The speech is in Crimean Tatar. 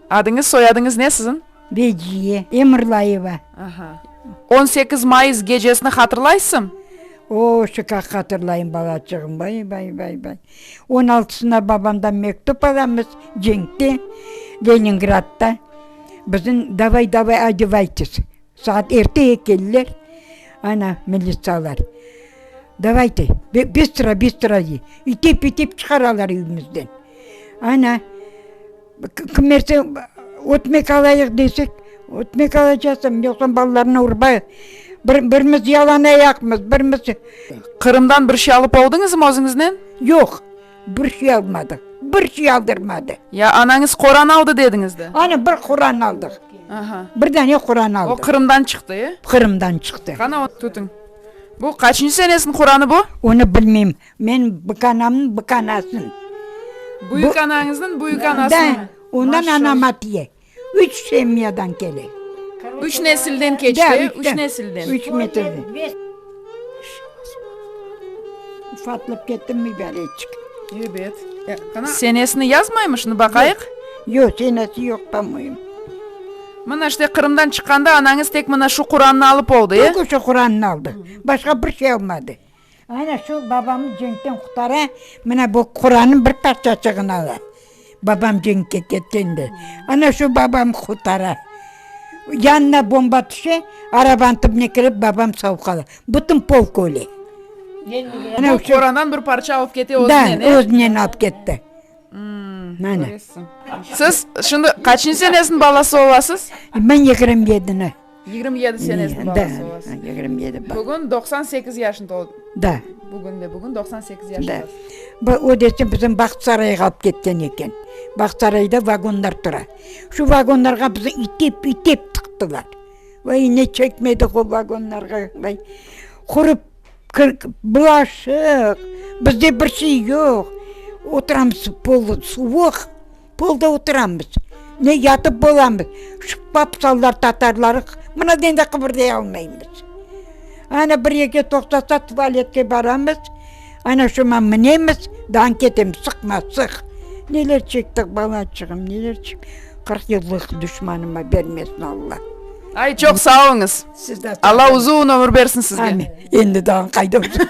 Adıñız, soyadıñız ne siziñ? Veciye Emirlayeva. Aha. On sekiz mayıs gecesini hatırlaysıñ? Oo, şıkaq hatırlayım, balacığım. Vay, vay, vay, vay. On altısına babamdan mektüp alamız, cenkte, Leningradda. Bizim, davay, davay, odevaytız. Saat erteye keldiler, ana, militsiyalar. Davaytı, biz tura, biz tura, dey. İtip, itip çıqaralar evimizden. Ana, kimerse ötmek alayıq desek, ötmek alacaqsam, yoqsa balalarnı urbayıq. Birimiz yalanayaqmız, birimiz. Qırımdan bir şey alıp oldıñızmı özüñiznen? Yoq. Bir şey almadı, bir şey aldırmadı. Ya anañız Quran aldı dediñiz de. Ana bir Quran aldıq. Aha. Bir dane Quran aldıq. O Qırımdan çıqtı, e? Qırımdan çıqtı. Qana o tutıñ. Bu qaçıncı senesiniñ Quranı bu? Onı bilmeyim. Men büyük anamnıñ büyük anasınıñ. Büyük anañıznıñ büyük anasınıñ. Da, ondan anam atiye. Üç semyadan kele. Üç nesilden keçti, üç nesilden. Üç nesilden. Ufatlıp kettim mübareçik. Ebet. Senesini yazmaymışnı, baqayıq? Yoq, senesi yoq, pamoyim. Mına işte Qırımdan çıqqanda anañız tek mına şu Qurannı alıp oldı, e? Tek oşo Qurannı aldı, başqa bir şey almadı. Aynen şol babamnı cenkten qutara, mına bu Qurannıñ bir parçaçığını ala. Babam cenkke ketkende, ana şu babamnı qutara. Yanına bomba tüşe, arabanıñ tübüne kirip, babam sav qala. Bütün polk öle. Bu Qurandan bir parça alıp kete özünen, e? Da, özünen alıp ketti. Mana. Siz şimdi qaçıncı senesiniñ balası olasız? Men yigirmi yedini. Yigirmi yedi senesiniñ balası olasız. Da, yigirmi yedi balası. Bugün doqsan sekiz yaşın toldu. Da. Bugün de bugün doqsan sekiz yaşındasız. Da. Bu öyleyse bizim Bahtısarayğa alıp ketken eken. Bahtısarayda vagonlar tura. Şu vagonlarğa bizi itip, itip tıqtılar. Vay, ne çekmedik o vagonlarğa, vay. Qurub, bulaşıq, bizde bir şey yoq. Oturamız, pol suvuq. Polda oturamız, ne yatıp bolamız, şıppap sallar tatarları, mına dende qıbırday almaymız. Ana bir eke toqtasa tuvaletke baramız, ana şoma minemiz, dağın ketemiz, sıqma, sıq. Neler çektik balaçığım, neler çek, qırq yıllıq duşmanıma bermesin Alla. Ay, çoq sağ oluñız. Siz de sağ oluñız. Alla uzun ömür bersin sizge. Amin. Endi dağın qayda uzun.